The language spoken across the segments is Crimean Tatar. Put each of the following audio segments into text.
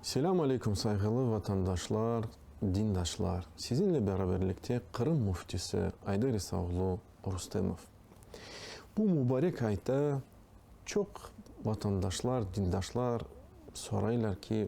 Selâm aleyküm, sayğılı vatandaşlar, dindaşlar! Sizinle beraberlikte Qırım Müftisi Ayder İsaoğlu Rustemov. Bu mubarek ayta çoq vatandaşlar, dindaşlar soraylar ki,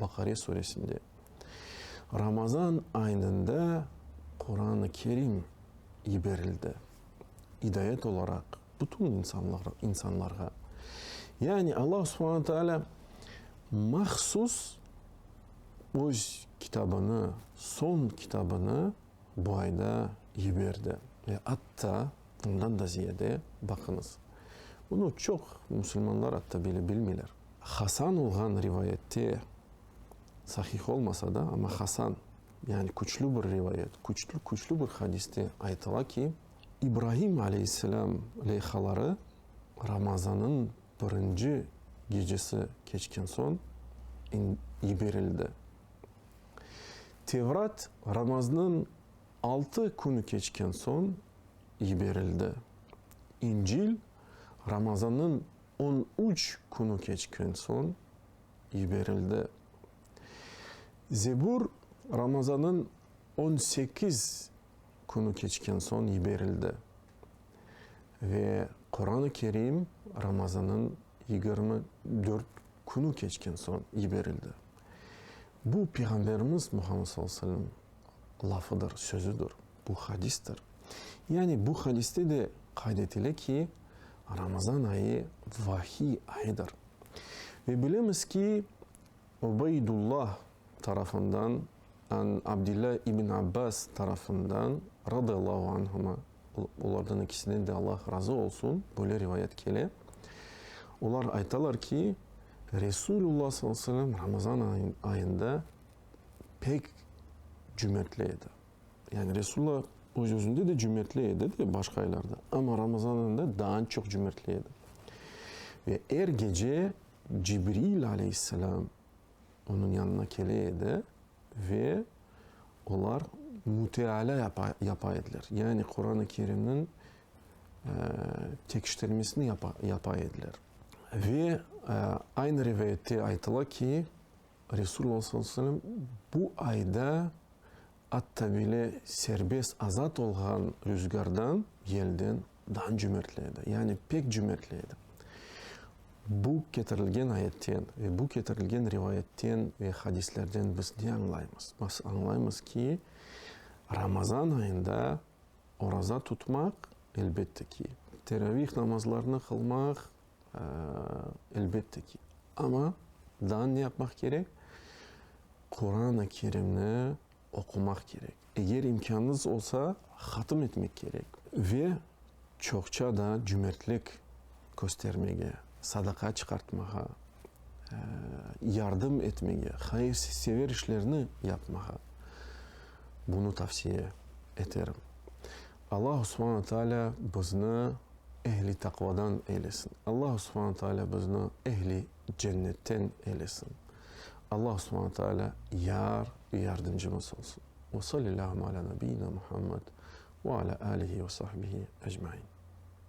Baqare suresinde, Ramazan aynında Quran-ı Kerim yiberildi, idayet olaraq bütün insanlarğa. Yani Alla subhana taalâ mahsus öz kitabını, soñ kitabını bu ayda yiberdi. Ve atta ondan da ziyade, baqıñız, bunı çoq musulmanlar atta bile bilmeyler. Hasan olğan rivayette, sahih olmasa da, amma hasan, yani küçlü bir rivayet, küçlü, küçlü bir hadiste aytıla ki, İbrahim aleyhisselâm leyhaları Ramazanıñ birinci gecesi keçken soñ yiberildi. Tevrat Ramaznıñ altı künü keçken soñ yiberildi. İncil Ramazanıñ On üç künü keçken soñ yiberildi. Zebur Ramazanıñ on sekiz künü keçken soñ yiberildi. Ve Quran-ı Kerim Ramazanıñ yigirmi dört künü keçken soñ yiberildi. Bu, Peyğamberimiz Muhammed sallallahu aleyhi ve sellem lafıdır, sözüdir, bu hadistir. Yani bu hadiste de qayd etile ki, Ramazan ayı vahiy ayıdır. Ve bilemiz ki, Ubeydullah tarafından, an Abdilla ibn Abbas tarafından, radıyallahu anhuma, olardan ikisinden de Allah razı olsun, böyle rivayet kele, olar aytalar ki, Resulullah sallallahu aleyhi ve sellem Ramazan ayında pek cümertli edi. Yani Resulla öz-özünde de cümertli edi de, başqa aylarda, amma Ramazan ayında daa çoq cümertli edi. Ve er gece Cibril aleyhisselam onıñ yanına kele edi ve olar müteala yapa, yapa ediler. Yani Quran-ı Kerimniñ tekiştirmesini yapa, yapa ediler. Ve aynı rivayette aytıla ki, Resulullah sallallahu aleyhi ve sellem bu ayda atta bile serbest, azat olğan rüzgardan, yelden daa cömertli edi, yani pek cömertli edi. Bu ketirilgen ayetten ve bu ketirilgen rivayetten ve hadislerden biz ne añlaymız? Biz añlaymız ki, Ramazan ayında oraza tutmaq, elbette ki, teravih namazlarını qılmaq Elbette ki, amma daa ne yapmaq kerek? Quran-ı Kerimni oqumaq kerek. Eger imkânıñız olsa, hatım etmek kerek. Ve çoqça da cümertlik köstermege, sadaqa çıqartmağa, yardım etmege, hayırsever işlerni yapmağa bunı tavsiye eterim. Allah Subhana Taalâ bizni ehli taqvadan eylesin! Allah Subhana Taalâ bizni ehli cennetten eylesin! Allah Subhana Taalâ yar ve yardımcımız olsun! Ve sallillâhümme alâ nabiyyina Muhammed ve alâ âlihi ve sahbihi ecmain.